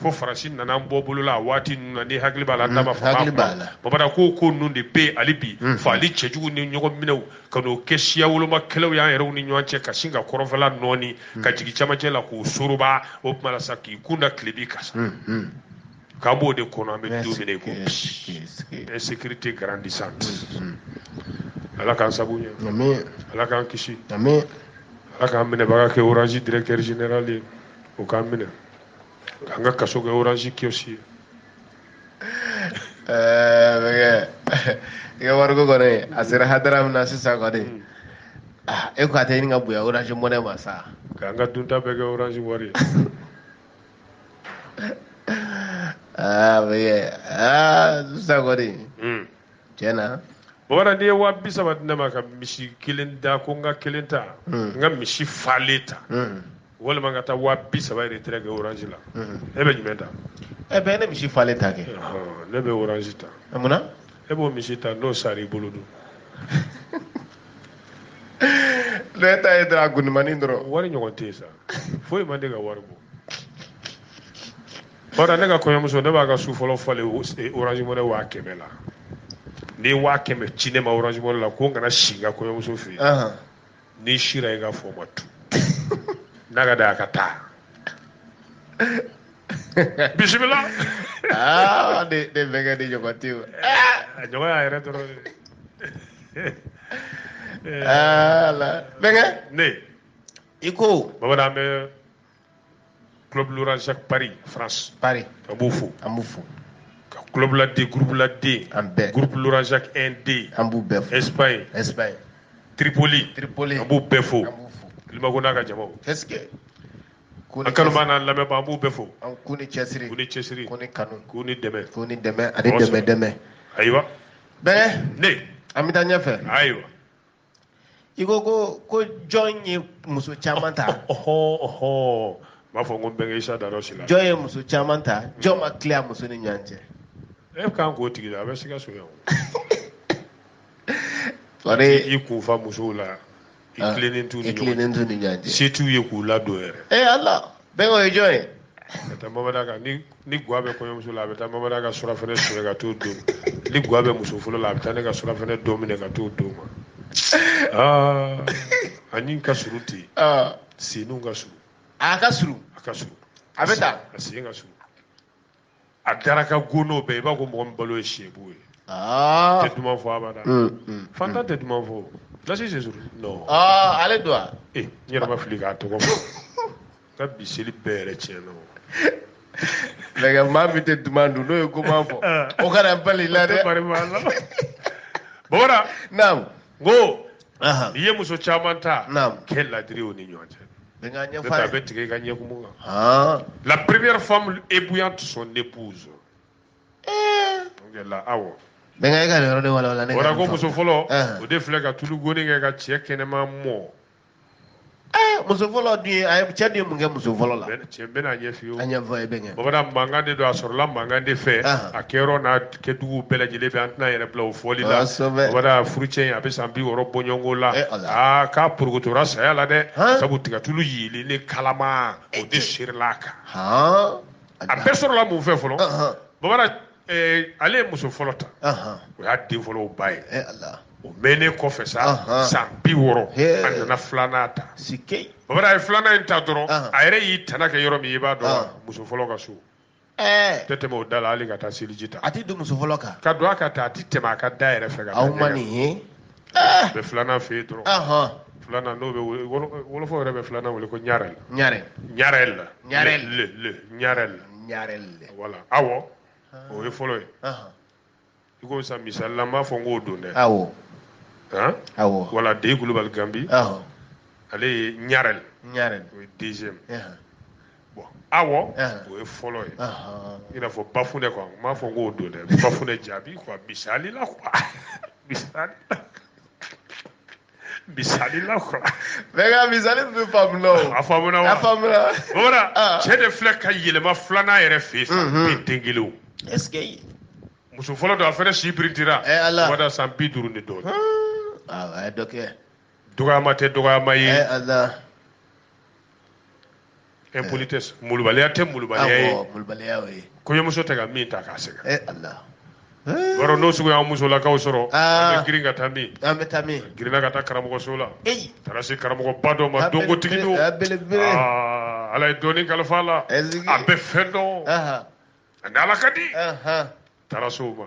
fo faransi nana an bɔ bolo la waati min na n'i hakili b'a la n'a b'a fɔ bamanan ko ko ninnu de bɛ hali bi faali cɛjugu ni ɲɔgɔn minɛw ka n'o kɛ siya woloma kɛlɛw y'an yɛrɛw ni ɲɔgɔn cɛ ka sin ka kɔrɔnfɛla nɔɔni ka jigin camancɛ la k'o soroba o tuma la sa k'i kun da tilebin kan sa k'an b'o de kɔnɔ an bɛ don min i ko bi insécurité grandissante ala k'an sabu ɲɛ ala k'an kisi ala k'an minɛbaga kɛ orange directeur général ye o k'an minɛ An ka kaso kɛ orange kiosque ye. Ɛɛ bɛnkɛ i ka wariko kɔni a sera hadara min na sisan kɔni hmm. ah, e ko a tɛ ɲini ka bonya orange money ma sa k'an ka dunta bɛɛ kɛ orange wari ye aa bɛnkɛ aa sisan kɔni hmm. tiɲɛ na bamanan n'i ye waa bi saba di ne ma ka misi kelen da ko n ka kelen ta hmm. n ka misi falen ta walima n ka taa waa bi saba retrait kɛ orange la e bɛ jumɛn ta e bɛɛ ne misi falen ta kɛ ne bɛ orange ta munna e b'o misi ta n'o sara i bolo dun ne ta ye dɔrɔn a gundumani dɔrɔn wari ɲɔgɔn tɛ yen sa foyi man di ka wari bɔ bari ne ka kɔɲɔmuso ne b'a ka su fɔlɔ falen orange money waa kɛmɛ la n'i ye waa kɛmɛ ci ne ma orange money la ko n kana si n ka kɔɲɔmuso fɛ yen n'i sira i ka fɔ ma tu n'a ka da a ka taa bisimila aa ne ne bɛnkɛ ni ɲɔgɔn tɛ o a ɲɔgɔn y'a yɛrɛ dɔrɔn de ala bɛnkɛ ne i ko bamanan bɛ club Laurent Jacques Paris France. Paris an b'u fo. an b'u fo. ka club la D groupe la D. an bɛɛ groupe Laurent Jacques 1 D. an b'u bɛɛ fo. Espagne. Espagne. Tripoli. Tripoli an b'u bɛɛ fo. an b'u fo. Limago n'a ka jamaw. qu'est-ce que. an kanubaa n'an lamɛnbaa an b'u bɛɛ fo. an k'u ni cɛsiri. k'u ni cɛsiri. k'u ni kanu. k'u ni dɛmɛ. k'u ni dɛmɛ ani dɛmɛ dɛmɛ. ayiwa. bɛɛ. ne. an bɛ taa ɲɛfɛ. ayiwa. i ko ko ko jɔn ye muso caman ta ɔhɔ ɔhɔ b'a fɔ ko bɛnkɛ isa da dɔ si la jɔn ye muso caman ta jɔn ma tilen musow ni ɲɔgɔn cɛ e kan k'o tigi la a bɛ sika soya o sɔrɔ i kun fa musow la i tilennen t'u ni ɲɔgɔn cɛ se t'u ye k'u ladon yɛrɛ ee ala Bɛnkɛ o ye jɔn ye? Ka taa Mamada ka ni ni gwa bɛ kɔɲɔmuso la a bɛ taa Mamada ka surafɛnɛ sonya ka t'o d'o ma ni gwa bɛ muso fɔlɔ la a bɛ taa ne ka surafɛnɛ dɔ minɛ ka t'o d'o ma aa ani ka surun ten senniw ka surun a ka surun a ka surun a bɛ ta a sen ka surun a dara ka go n'o bɛɛ i b'a ko mɔgɔ min balo ye sebu ye ah. tɛ duman fɔ abada mm, mm, fanta mm. tɛ duman fɔ Lasi c'est sûr non ah, ale don wa ee eh, n yɛrɛ ma fili k'a tɔgɔ fɔ ka bi seli bɛɛ yɛrɛ tiɲɛ na lɛgɛ maa min tɛ duman dun n'o ye koman fɔ ah. o kana bali la dɛ Wara naam n ko n'i ye muso caman ta kɛ ladiri o ni ɲɔgɔn cɛ a bɛ tigɛ i ka ɲɛkumu kan la première femme ébouillante son épouse la awo bɛnkɛ e ka nin yɔrɔ de walawala n ye Wara ko muso fɔlɔ o de filɛ ka tulu goni kɛ ka cɛ kɛnɛma mɔ muso fɔlɔ dun a ye cɛ de ye mun kɛ muso fɔlɔ la cɛ bɛn'a ɲɛfɔ a ɲɛfɔ n ye bɛnkɛ bamanan mankan de don a sɔrɔla mankan de fɛ a kɛyɔrɔ n'a kɛdugu bɛɛ lajɛlen bɛ an tɛna yɛrɛ bila o fɔli la wala furucɛ a bɛ san bi wɔɔrɔ bɔ ɲɔgɔn na eh, aa k'a porokotora saya la dɛ sabu tigatulu wulilen kalaman o de serila a kan a bɛɛ sɔrɔla mun fɛ fɔlɔ bamanan eh, ale ye muso fɔlɔ ta o y'a den fɔlɔ ba ye eh, o mɛnnen kɔfɛ sa san bi wɔɔrɔ a nana filanan ta bamanan a ye filanan in ta dɔrɔn a yɛrɛ y'i tana kɛ yɔrɔ min i b'a dɔn muso fɔlɔ ka so ɛɛ tɛ tɛmɛ o da la hali ka taa seliji ta a tɛ don muso fɔlɔ kan ka don a ka taa a tɛ tɛmɛ a ka da yɛrɛ fɛ ka taa aw ma nin ye a bɛ filanan fɛ yen dɔrɔn ahɔn filanan n'o bɛ wele- wolo- wolofaw yɛrɛ bɛ filanan wele ko ɲarɛl ɲarɛl ɲarɛl la Ɲarɛl. le le- le ɲarɛl la ɲarɛl le wala awo o ye fɔlɔ ye ahɔn i ko sa misali la n m'a fɔ n k'o don dɛ awɔ han awɔ wala Ndey Kulubali Gambi awɔ ale ye ɲarɛl ɲarɛl o ye deuxième bon awo o ye fɔlɔ ye i n'a fɔ Bafunɛ quoi n m'a fɔ n k'o don dɛ Bafunɛ Jabi quoi misali la quoi misali la misali la quoi mais n ka misali bɛ faamu la o a faamuna wa a faamuna bamanan ah. cɛ de filɛ ka yɛlɛma filanan yɛrɛ fɛ yen sa mhm. bi den kelen o est ce que muso fɔlɔ don a fɛnɛ si birintira eh, ala o da san bi duuru ni dɔɔni awɔ ah, ah, a ye dɔ kɛ dɔgɔyama tɛ dɔgɔyama ye eh, ala impolitesse eh. molobaliya tɛ molobaliya ye molobaliya ye kɔɲɔmuso tɛ ka min ta k'a sɛgɛn eh, eh. Wara n'o sugu y'an musolakaw sɔrɔ ah. an bɛ girin ka taa min an bɛ taa min girinna ka taa karamɔgɔso la taara se karamɔgɔba dɔ ma dɔnkotigi don ah, ala ye dɔnni kalifa a la a bɛ fɛn dɔn a ni ala ka di taara se o ma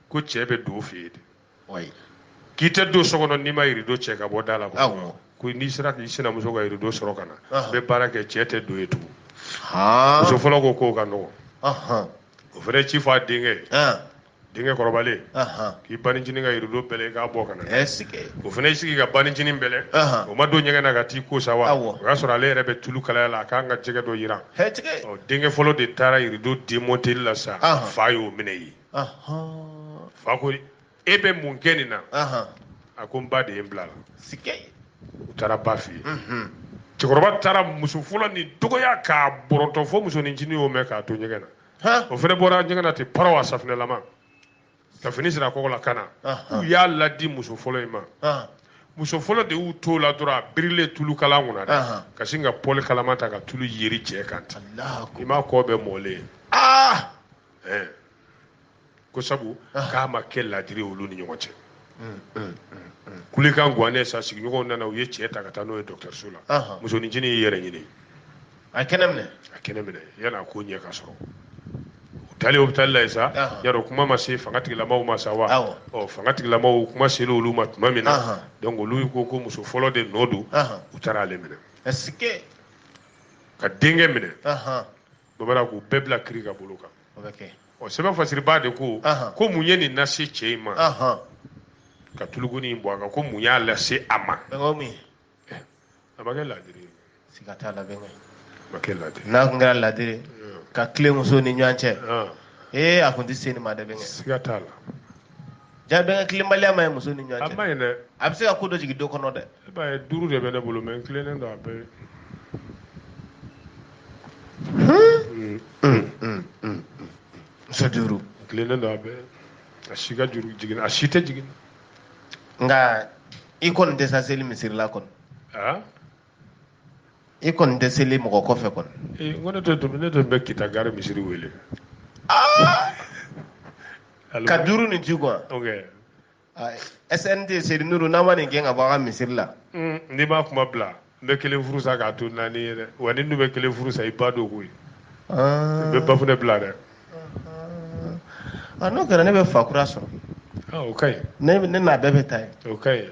ko cɛ bɛ don fɛ yen de k'i tɛ don so kɔnɔ n'i ma rideau cɛ ka bɔ da la ko n'i sera k'i sinamuso ka rideau sɔrɔ ka na n bɛ baara kɛ cɛ tɛ don yen tugun muso fɔlɔ ko k'o ka nɔgɔn o fana ci fɔ a denkɛ denkɛ kɔrɔbalen k'i bancinin ka rideau bɛlɛ k'a bɔ ka na o fana y'i sigi ka bancinin bɛlɛ o ma don ɲɛgɛn na ka t'i ko sa wa o y'a sɔrɔ ale yɛrɛ bɛ tulu kalaya la a k'an ka jɛgɛ dɔ jiran denkɛ fɔlɔ de taara rideau démonter la sa fa y'o minɛ yen fa ko e bɛ mun kɛ nin na a ko n ba de ye n bila la u taara ba fɛ yen cɛkɔrɔba taara muso fɔlɔ nin dɔgɔya k'a bɔrɔtɔ fo musonincinin y'o mɛn k'a to ɲɛgɛn na o fana bɔra ɲɛgɛn na ten paraw a safinɛlama ka fini siri a kɔgɔ la ka na u y'a ladi muso fɔlɔ in ma muso fɔlɔ de y'u t'o la dɔrɔn a birilen tulu kala kunna dɛ ka sin ka pɔli kalaman ta ka tulu yeri cɛ kan ten i m'a kɔ bɛɛ mɔlen ye eh. ko sabu ah. k'a ma kɛ ladiri olu ni ɲɔgɔn cɛ mm, mm, mm, kulekan gannen sa sigiɲɔgɔnw nana u ye cɛ ta ka taa n'o ye dɔgɔtɔrɔso la musonincinin y'i yɛrɛ ɲini a kɛnɛ minɛ a kɛnɛ minɛ yan'a ko ɲɛ ka sɔrɔ u taalen hôpital la yen sa yarɔ kuma ma se fanga tigilamaw ma sa wa ɔ fanga tigilamaw kuma sera olu ma tuma min na donc olu ko ko muso fɔlɔ de nɔ don u taara ale minɛ ka denkɛ minɛ dɔ b'a la k'u bɛɛ bila kiri ka bolo kan o bɛ kɛ ɔ sɛbɛn fasiribaa de ko Ahan. ko mun ye nin lase cɛ in ma ahɔn ka tulu goni in bɔn a kan ko mun y'a lase a ma bɛnkɛ o min a ma kɛ laadiri ye siga t'a la bɛnkɛ a ma kɛ laadiri ye. n'a tun kɛra ladiri ye, Ɔn, ka tilen muso ni ɲɔgɔn cɛ ɔn, ee a tun tɛ se nin ma dɛ bɛnkɛ siga t'a la jaa bɛnkɛ tilenbaliya man ɲi muso ni ɲɔgɔn cɛ a man ɲi dɛ a bɛ se ka ko dɔ jigin du kɔnɔ dɛ e b'a ye duuru de bɛ ne bolo mais n tilennen don a bɛɛ muso duuru n tilennen don a bɛɛ a si ka juru jigin a si tɛ jigin nka i kɔni tɛ sa seli misiri la kɔni i kɔni tɛ seli mɔgɔ kɔfɛ kɔni ee ko ne tɛ tun ne tun bɛ kita gari misiri wele ah! ka duuru nin ci quoi ok SNT Seydi Nuru n'an ma nin gɛn ka bɔ an ka misiri la hmm, n'i m'a kuma bila n bɛ kelen furu sa k'a to naani ye dɛ wa ni dun bɛ kelen furu sa i ba don koyi ah. n bɛ bafunɛ bila dɛ ah, n'o kɛra ne bɛ fa kura sɔrɔ o ka ɲi ne n'a bɛɛ bɛ taa yen o ka ɲi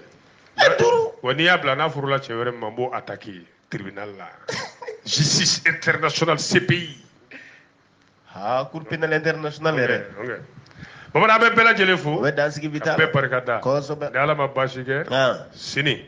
e duuru wa n'i y'a bila n'a furula cɛ wɛrɛ ma n b'o attaquer tribunal la justice internationale CPI aa cour pénale internationale yɛrɛ okay. bamanan an bɛ bɛɛ lajɛlen fo bɛ dansigi bi taa bɛɛ barika da kosɛbɛ ni ala ma baasi kɛ sini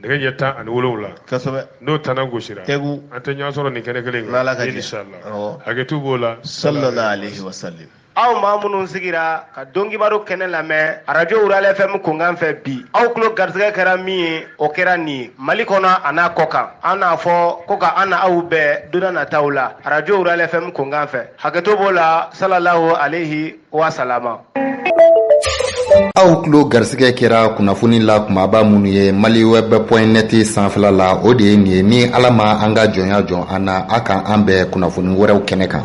nɛgɛ ɲɛ tan ani wolonwula kosɛbɛ n'o tanna gosira tegu an tɛ ɲɔgɔn sɔrɔ nin kɛnɛ kelen kan inshallah hakɛto b'o la sallallahu alaihi wasallam aw maa minnu sigira ka donkibaru kɛnɛ lamɛn radio wurale fm kunkan fɛ bi aw tulo garisɛgɛ kɛra min ye o kɛra nin ye mali kɔnɔ a n'a kɔ kan an n'a fɔ ko ka an na aw bɛn don na nataw la radio wurale fm kunkan fɛ hakɛto b'o la salalaho alehi wasalama aw tulo garisɛgɛ kɛra kunnafoni la kumaba minnu ye mali wɛb pɔn nɛti sanfɛla la o de ye nin ye ni ala ma an ka jɔnya jɔn an na a ka an bɛn kunnafoni wɛrɛw kɛnɛ kan